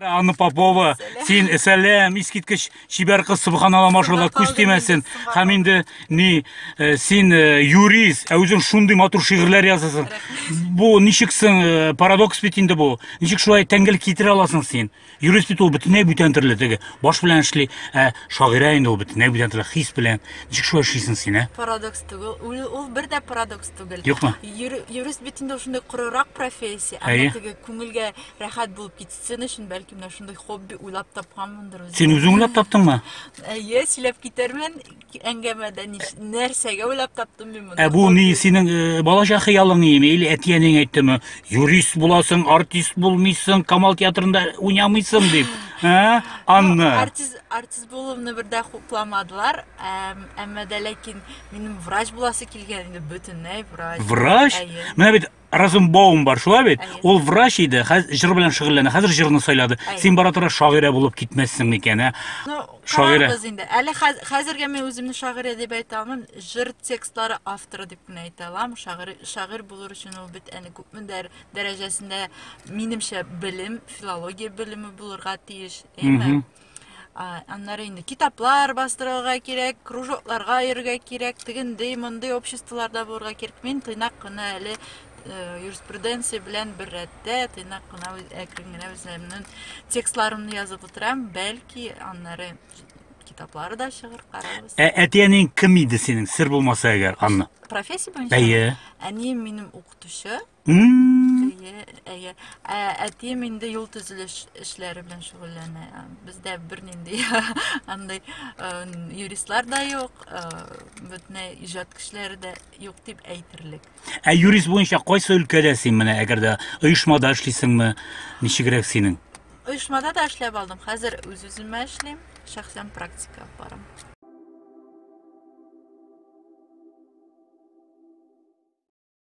Анна Попова, син сәлам, искиткеч чибәр кыз, субханалла, машалла, күз тимәсен. Һәм инде ни э, син э, юрист, ә үзең шундый матур шигырьләр язасың. Бу ничек соң э, парадокс бит инде бу. Ничек шулай тәңгел китерә аласың син? Юрист бит ул бөтенләй бүтән төрле теге баш белән эшли, ә шагыйрә инде ул бөтенләй бүтән төрле хис белән. Ничек шулай эшлисең син, ә? Парадокс түгел. Ул, ул бер дә парадокс түгел. Юкмы? Юр- Юрист бит инде ул шундый корырак профессия. Әйе. Әмма теге күңелгә рәхәт булып китсен өчен, бәлки менә шундый хобби уйлап тапканмындыр үзем. Син үзең уйлап таптыңмы? Әйе, сөйләп китермен. әңгәмәдә ниш- нәрсәгә уйлап таптым мин моны? Ә бу ни синең э, балачак хыялың име или әтиәнең әйттеме? Юрист буласың, артист булмыйсың, Камал театрында уйнамыйсың дип. Ә? Анна. Артист, артист булуымны бердә хупламадылар, әм, әмма дә ләкин минем врач буласы килгән инде бөтенләй врач. Врач? Әйе. Менә бит Розенбаум бар, шулай бит? Ул врач иде, хәзер җыр белән шөгыльләнә, хәзер җырны сайлады. Син бара тора шагыйрә булып китмәссең микән, ә? Шагыйрә. Без инде. Әле хәзергә мин үземне шагыйрә дип әйтә алмыйм. Җыр текстлары авторы дип кенә әйтә алам. Шагыйрь, шагыйрь булыр өчен ул бит әле күпме дәрәҗәсендә минемчә белем, филология белеме булырга тиеш, әйме? Аннары инде китаплар бастырырга кирәк, кружокларга йөрергә кирәк, тегендей, мондый обществоларда булырга кирәк. Мин тыйнак кына әле э, юриспруденция белән бер рәттә, тыйнак кына әкрен генә үземнең текстларымны язып утырам, бәлки аннары китаплары да чыгыр, карарбыз. Ә әтиәнең кем иде синең, сер булмаса әгәр, Анна? Профессия буенча? Әйе. Әнием минем укытучы. Әйе, әйе. Ә әтием инде юл төзелеш эшләре белән шөгыльләнә. Бездә бернинди андый э, юристлар да юк, э, бөтенләй иҗат кешеләре дә юк дип әйтерлек. Ә юрист буенча кайсы өлкәдә син менә, әгәр дә оешмада эшлисеңме, ничегрәк синең? Оешмада да эшләп алдым. Хәзер үз-үземә эшлим, шәхсән практика барам.